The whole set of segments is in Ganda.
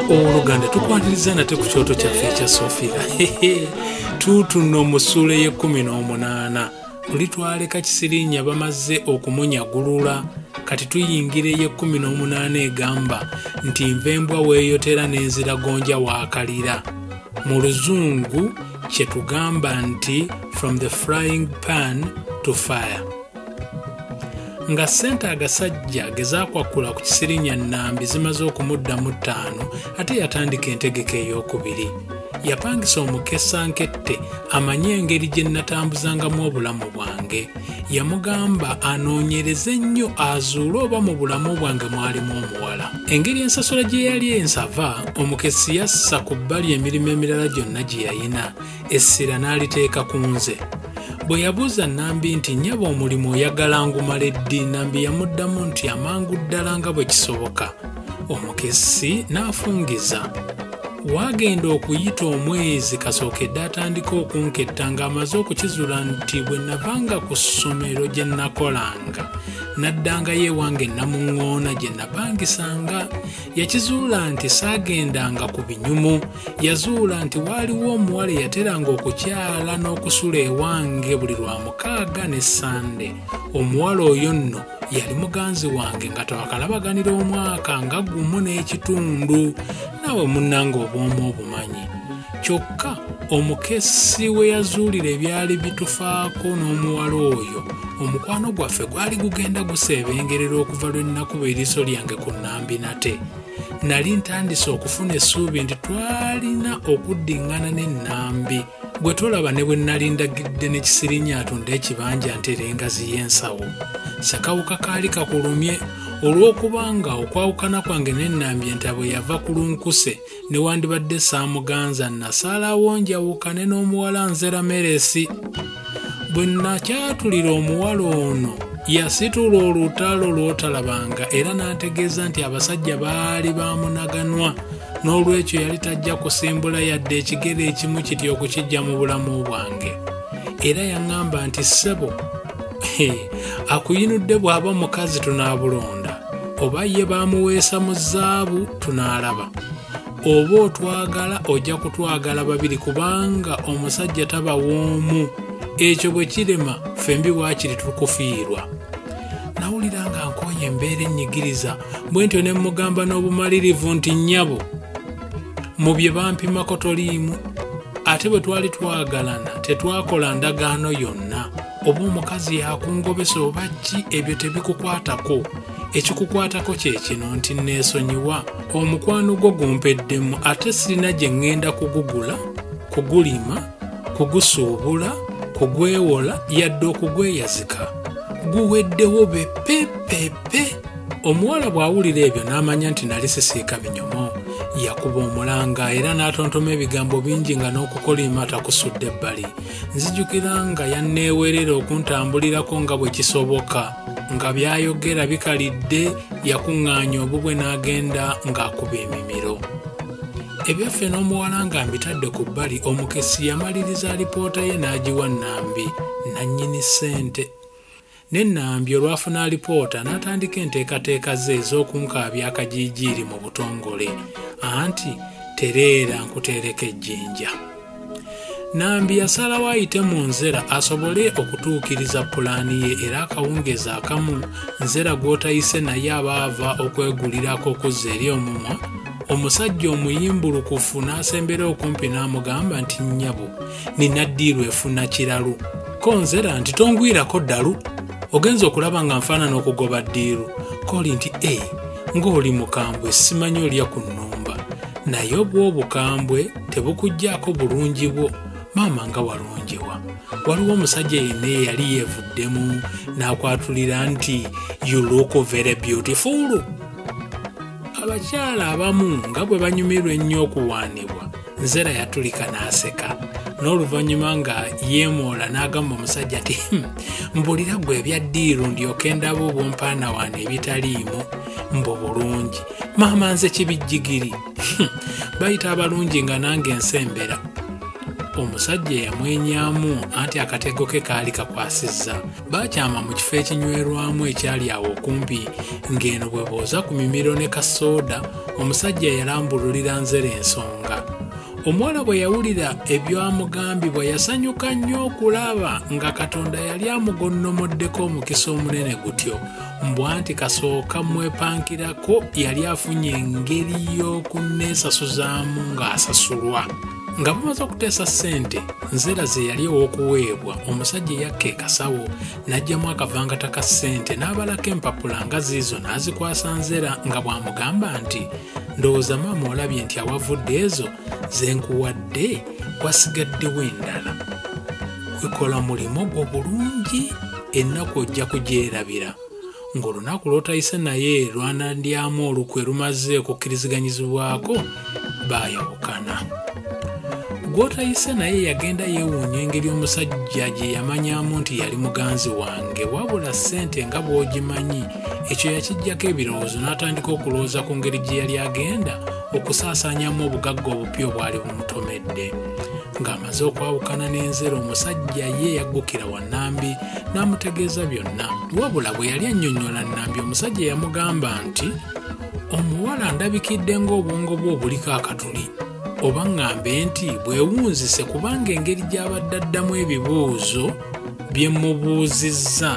oluganda tukwatiriza nate ku kyoto kyaffe ekya sofia tuutuno musuula ey'ekkumi n'omunaana luli twaleka kisirinya bamaze okumunyagulula kati tuyingira ey'ekkumi n'omunaana egamba nti nva embwa weeyotera n'enziragonja waakalira mu luzungu kye tugamba nti from the frying pan to fire nga ssente agasajja gezakwakkula ku kisirinya nnambi zimaze okumuddamu ttaano ate yatandika entegeka ey'okubiri yapangisa omukesa nkette amanye engeri gye nnatambuzangamu obulamu bwange yamugamba anoonyereze nnyo azuule oba mu bulamu bwange mwalimu omuwala engeri ensasula gye yali ensava omukesi yassa ku bbali emirimu emirala gyonna gye yayina essira n'aliteeka ku nze bwe yabuuza nambi nti nyaba omulimu oyagala ngumala eddi nambi yamuddamu nti amangu ddala nga bwe kisoboka omukessi n'afungiza waagenda okuyita omwezi kasookedde atandika okunketta ng'amaze okukizula nti bwe navanga ku ssomero gye nakolanga naddangayo ewange namuŋŋoona gye napangisanga yakizuula nti saagendanga ku binyumu yazuula nti waaliwo omuwala eyateranga okukyala n'okusula ewange buli lwa mukaaga ne sande omuwala oyo nno yali muganzi wange nga twakalabaganira omwaka nga gumu n'ekitundu naawe munnanga obwomu obumanyi kyokka omukessi we yazuulira ebyali bitufaako n'omuwala oyo omukwano gwaffe gwali gugenda guseebengerera okuva lwe nnakuba eriiso lyange ku nnambi nate nali ntandise okufuna essuubi nti twalina okuddiŋŋana n'ennambi gwe tolaba ne bwe nnali ndagidde ne kisirinya atunde ekibanja ntera engazi y'ensawo sakawuka kaali kakulumye olw'okuba nga okwawukana kwange n'ennambi entabwe yava ku lunkuse newandibadde saamuganza nasaalawo njawukane n'omuwala nzera meresi bwe nakyatulira omuwala ono yasitula olutalo lw'otalabanga era n'ategeeza nti abasajja baali baamunaganwa n'olwekyo yali tajja kusimbula yadde ekigere ekimu kitya okukijja mu bulamu bwange era yaŋŋamba nti ssebo akuyinudde bw'aba omukazi tunaabulonda oba ye baamuweesa mu zaabu tunaalaba oba otwagala ojja kutwagala babiri kubanga omusajja taba w'omu ekyo bwe kirema ffembi waakiri tukufiirwa nawulira nga nkooye embeera ennyigiriza bwe ntyo ne mmugamba n'obumalirivu nti nnyabo mu bye bampimako toliimu ate bwe twali twagalana tetwakola ndagaano yonna oba omukazi yakungobesa oba ki ebyo tebikukwatako ekikukwatako kye kino nti neesonyiwa omukwano gwo gumpeddemu ate sirina gye ŋŋenda kugugula kugulima kugusuubula kugwewola yadde okugweyazika guweddewo bepepepe omuwala bw'awulira ebyo n'amanya nti nali sisiika binyomo yakuba omulanga era n'atontoma ebigambo bingi nga n'okukolima takusudde ebbali nzijukira nga yanneewerera okuntambulirako nga bwe kisoboka nga by'ayogera bikalidde yakuŋŋaanya obubwe n'agenda ng'akuba emimiro ebyaffe n'omuwala nga mbitadde ku bbali omukessi yamaliriza alipoota ye n'agiwa nnambi nannyini ssente ne nnambi olwafuna alipoota n'atandika enteekateeka ze ez'okunkaabya akajiijiiri mu butongole anti tereera nkuteereka ejjinja nambi yasalawo ayite mu nzera asobole okutuukiriza pulaani ye era akawungeezi akamu nzera gw'otayise naye aba ava okwegulirako okuzza eri omumwa omusajja omuyimbulukufu n'asembera okumpi n'amugamba nti nnyabo nina ddiiru efuna kiralu ko nzera nti tongwirako ddalu ogenza okulaba nga nfaanana okugoba ddiiru koli nti e eh, ng'oli mukambwe simanyi olya ku nnumba naye obw'obukambwe tebukuggyako bulungi bwo maama nga walungiwa waliwo omusajja yenna eyali yeevuddemu n'akwatulira nti you look very beautiful abakyala abamu nga bwe banyumirwa ennyo okuwaanibwa nzera yatulika n'aseka n'oluvannyuma nga yeemoola n'agamba omusajja nti hmm, mbulira gwe ebya ddiiru ndyoke ndaba obwompaana waana ebitaliimu mbu bulungi maama nze kibijjigiri bayita abalungi nga nange ensembera omusajja eyamwenyamu anti akatego ke kaali kakwasizza baakyama mu kifo ekinywerwamu ekyali awo okumpi ng'eno bwe booza ku mimiro ne kasooda omusajja yalambululira nzere ensonga omuwala bwe yawulira ebyamugambibwa yasanyuka nnyo okulaba nga katonda yali amugonnomoddeko omukisa omunene gutyo mbwanti kasooka mwepankirako yali afunye engeri y'okunneesasuzaamu ng'asasulwa nga bamaze okuteesa ssente nzera ze yali ow'okuweebwa omusajja eyakka ekasawo n'aggyamu akavangata ka ssente n'abalako empapula nga ziizo n'azikwasa nzera nga bw'amugamba nti ndowooza maama olabye nti awavudde ezo ze nkuwadde wasigaddewo endala kwekola mulimu gwo bulungi ennaku ojja kugyerabira ng'olunaku lw'otayise naye lwanandyamu olukwe lumaze okukkiriziganyizibwako baayawukana gw'otayise naye yagenda yeewuunya engeri omusajja gye yamanyamu nti yali muganzi wange wabula ssente nga bw'ogimanyi ekyo yakijjako ebirowoozo n'atandika okulowooza ku ngeri gye yali agenda okusaasaanyamu obugagga obupya obwali bumutomedde ng'amaze okwawukana n'enzero omusajja ye yaggukira wa Nambi n'amutegeeza byonna. Wabula bwe yali annyonnyola Nambi omusajja eyamugamba nti omuwala ndabikidde ng'obwongo bwe obuliko akatuli oba ŋŋambe nti bwewunzise kubanga engeri gy'abadde addamu ebibuuzo bye mubuuzizza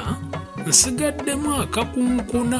nsigaddemu akakunkuna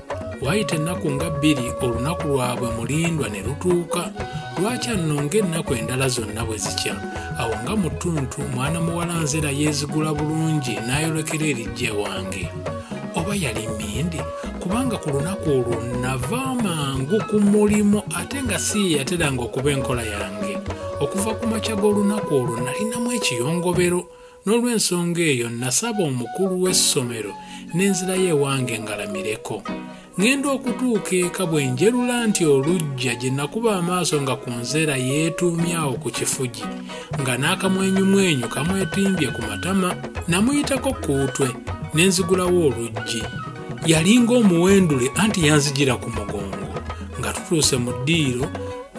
waayita ennaku nga bbiri olunaku lwabwe mulindwa ne lutuuka lwaki annonga ennaku endala zonna bwe zikya awo nga mu ttuntu mwana muwala nzera yeezigula bulungi n'ayolekera erijja ewange oba yali mindi kubanga ku lunaku olwo nava mangu ku mulimu ate nga si ye yateranga okuba enkola yange okuva ku makya g'olunaku olwo nalinamu ekiyongobero n'olw'ensonga eyo nasaba omukulu w'essomero n'enzirayo ewange ngalamireko ŋŋenda okutuuka eka bwe njerula nti olujja gye nakuba amaaso nga ku nzeera yeetuumye awo ku kifugi nga n'akamwenyumwenyu kamwetimbye ku matama namuyitako ku utwe ne nzigulawo oluggi yalinga omuwendule anti yanzijira ku mugongo nga tutuuse mu ddiiro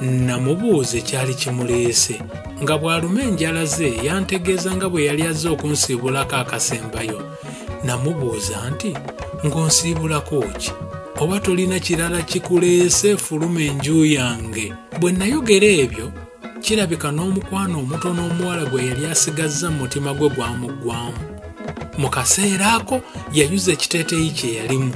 Namubuuza ekyali kimuleese nga bw'aluma enjala ze yantegeeza nga bwe yali azze okunsiibulako akasembayo. Namubuuza nti, ng'onsiibulako ki? Oba tolina kirala kikuleese fuluma enju yange. Bwe nayogera ebyo, kirabika n'omukwano omutono omuwala gwe yali asigazza mu mutima gwe gwamuggwamu. Mu kaseera ako yayuza ekiteeteeyi kye yalimu.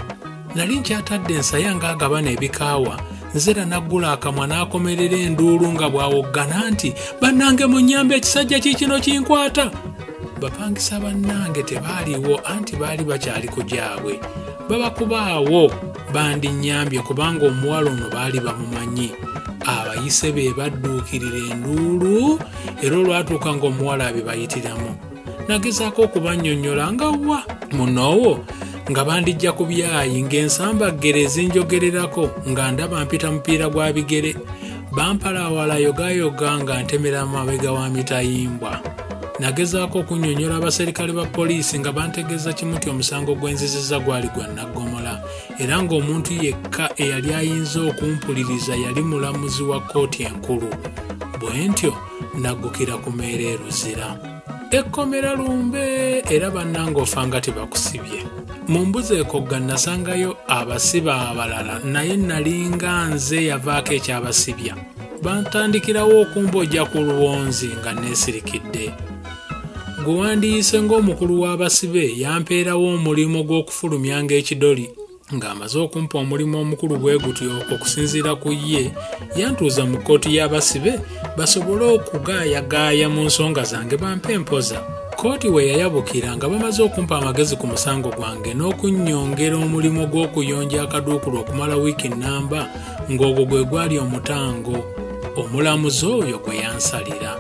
nali nkyatadde ensaya ng'agabana ebikaawa nzera n'aggula akamwa n'akomerera enduulu nga bw'awoggana nti bannange mu nnyamba ekisajja kiikino kinkwata bapangisa bannange tebaaliwo anti baali bakyali ku gyabwe babakubaawo bandinnyambye kubanga omuwala ono baali bamumanyi abayise be badduukirira enduulu era olwatuuka ng'omuwala abe bayitiramu nagezaako okubannyonnyola nga wa munoowo nga bandijja ku byayi ng'ensambaggere ezinjogererako nga ndaba mpita mupiira gwa bigere bampalaawala yogayoga nga ntemera amabega wa mitayimbwa nagezaako okunnyonnyola abaserikale ba poliisi nga bantegeeza kimu nti omusango gw'enziziza gwali gwa naggomola era ng'omuntu yekka eyali ayinza okumpuliriza yali mulamuzi wa kkooti enkulu bwe ntyo naggukira ku meera e luzira ekkomera lumbe era bannanga ofa nga tebakusibye mu mbuzi ekogga nasangayo abasiba abalala naye nalinga nze yavaako ekyabasibya bantandikirawo okumbojja ku luwonzi nga neesirikidde gwe wandiyise ng'omukulu w'abasibe yampeerawo omulimu gw'okufulumya ng'ekidoli ng'amaze okumpa omulimu omukulu bwe gutyo okusinziira ku ye yantuuza mu kkooti y'abasibe basobole okugaayagaaya mu nsonga zange bampe empoza kkooti we yayabukira nga bamaze okumpa amagezi ku musango gwange n'okunnyongera omulimu gw'okuyonja akaduukulu okumala wiiki nnamba ng'ogwo gwe gwali omutango omulamuzi oyo gwe yansalira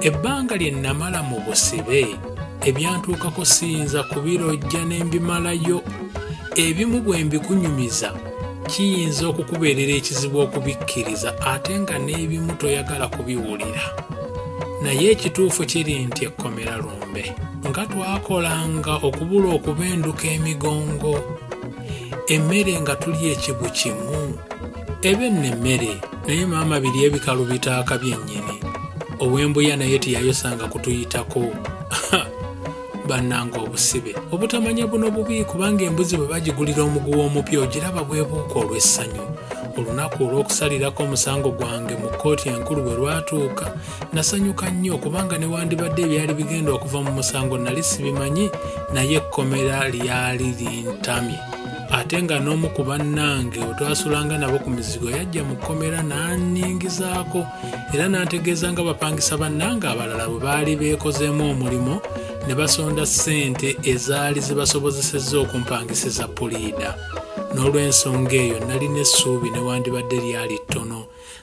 ebbanga lye nnamala mu busibe ebyantuukako siyinza kubirojja ne mbimalayo ebimu bwe mbikunyumiza kiyinza okukubeerera ekizibu okubikkiriza ate nga n'ebimu toyagala kubiwulira naye ekituufu kiri nti ekkomera lumbe nga twakolanga okubula okuba enduka emigongo emmere nga tuli ekibu kimu ebe nno emmere naye maama biri ebikalu bitaaka byennyini owembuya naye tiyayosanga kutuyitako bannanga obusibe obutamanya buno bubi kubanga embuzi bwe bagigulira omuguwa omupya ogiraba bwebuuka olw'essanyu olunaku olw'okusalirako omusango gwange mu kkooti enkulu bwe lwatuuka nasanyuka nnyo kubanga newandibadde ebyali bigenda okuva mu musango nali sibimanyi naye ekkomera lyali lintamye ate nga n'omu ku bannange otwasulanga nabo ku mizigo yajja mu kkomera n'annyingizaako era n'antegeeza nga bapangisa bannange abalala bwe baali beekozeemu omulimu ne basonda ssente ezaali zibasobozesezza okumpangisiza puliida n'olw'ensonga eyo nalina essuubi newandibadde lyali ttono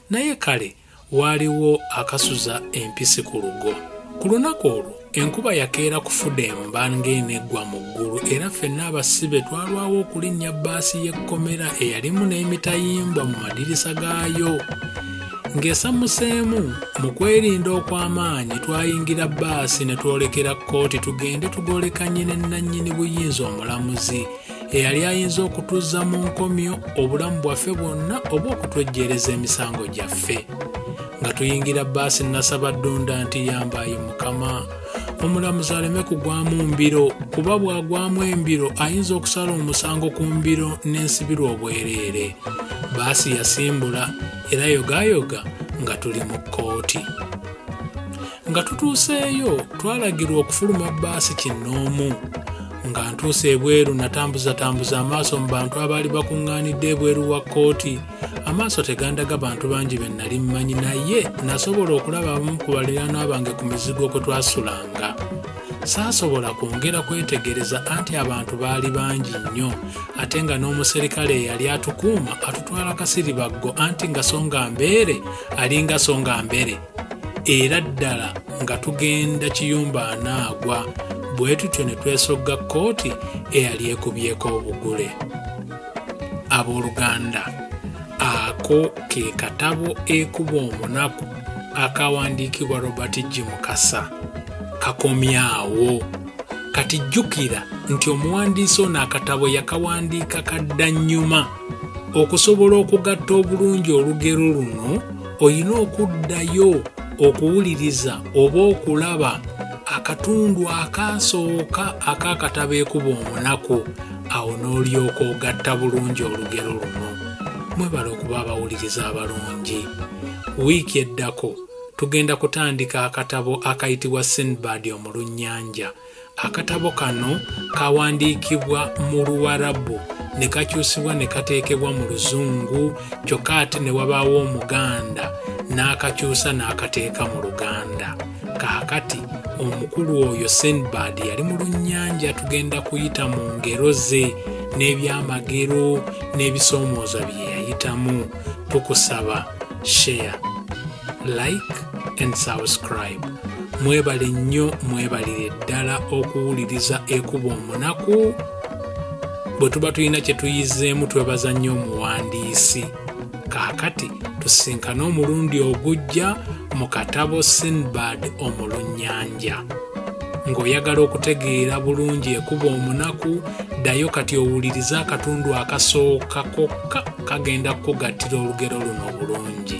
naye kale waaliwo akasuza empisi ku lugo ku lunaku olwo enkuba yakeera kufuda emba ng'eno eggwa mu ggulu era ffenna abasibe twalwawo okulinnya bbaasi y'ekkomera eyalimu n'emitayimbwa mu madirisa gaayo ng'esamuseemu mu kwerinda okw'amaanyi twayingira bbaasi ne twolekera kkooti tugende tugolekanye ne nnannyini buyinza omulamuzi eyali ayinza okutuzza mu nkomyo obulamu bwaffe bwonna oba okutwejjeereza emisango gyaffe nga tuyingira baasi nasaba ddunda nti yambaayo mukama omulamuzi aleme kugwamu mbiro kuba bwagwamu embiro ayinza okusala omusango ku mbiro n'ensibirwa obwereere baasi yasimbula era yogayoga nga tuli mu kkooti nga tutuuseeyo twalagirwa okufuluma baasi kinnoomu nga ntuuse ebweru natambuzatambuza amaaso mu bantu abaali bakuŋŋaanidde ebweru wa kkooti amaaso tegandaga bantu bangi be nnali mmanyi naye nasobola okulaba abamu ku baliraanwa bange ku mizigo kwe twasulanga saasobola kwongera kwetegereza anti abantu baali bangi nnyo ate nga n'omuserikale eyali atukuuma atutwala kasiribaggo anti nga songa mbeere alinga songa mbere era ddala nga tugenda kiyumba anaagwa bwe tutyo ne twesogga kkooti eyali ekubyeko obugule abooluganda ako ke katabo ekuba omunaku akawandiikibwa robert g mukasa kakomyawo kati jjukira nti omuwandiisi ono akatabo yakawandiika kadda nnyuma okusobola okugatta obulungi olugero luno olina okuddayo okuwuliriza oba okulaba akatundu akaasooka ak'akatabo ekuba omunaku awo n'olyoka ogatta bulungi olugero luno mwebale okuba abawuliriza abalungi wiiki eddako tugenda kutandika akatabo akayitibwa sinbad omulunnyanja akatabo kano kawandiikibwa mu luwarabu ne kakyusibwa ne kateekebwa mu luzungu kyokka ate ne wabaawo omuganda n'akakyusa n'akateeka mu luganda kaakati omukulu oyo sinbad yali mu lunnyanja tugenda kuyita mu ngero ze n'ebyamagero n'ebisoomooza bye yayitamu tukusaba share like and subscribe mwebale nnyo mwebalire ddala okuwuliriza ekuba omunaku bwe tuba tulina kye tuyizeemu twebaza nnyo omuwandiisi kaakati tusinkane omulundi ogujja mu katabo sinbad omulunnyanja ng'oyagala okutegeera bulungi ekuba omunaku ddayo kati owulirize akatundu akasooka kokka kagenda kukugattira olugero luno obulungi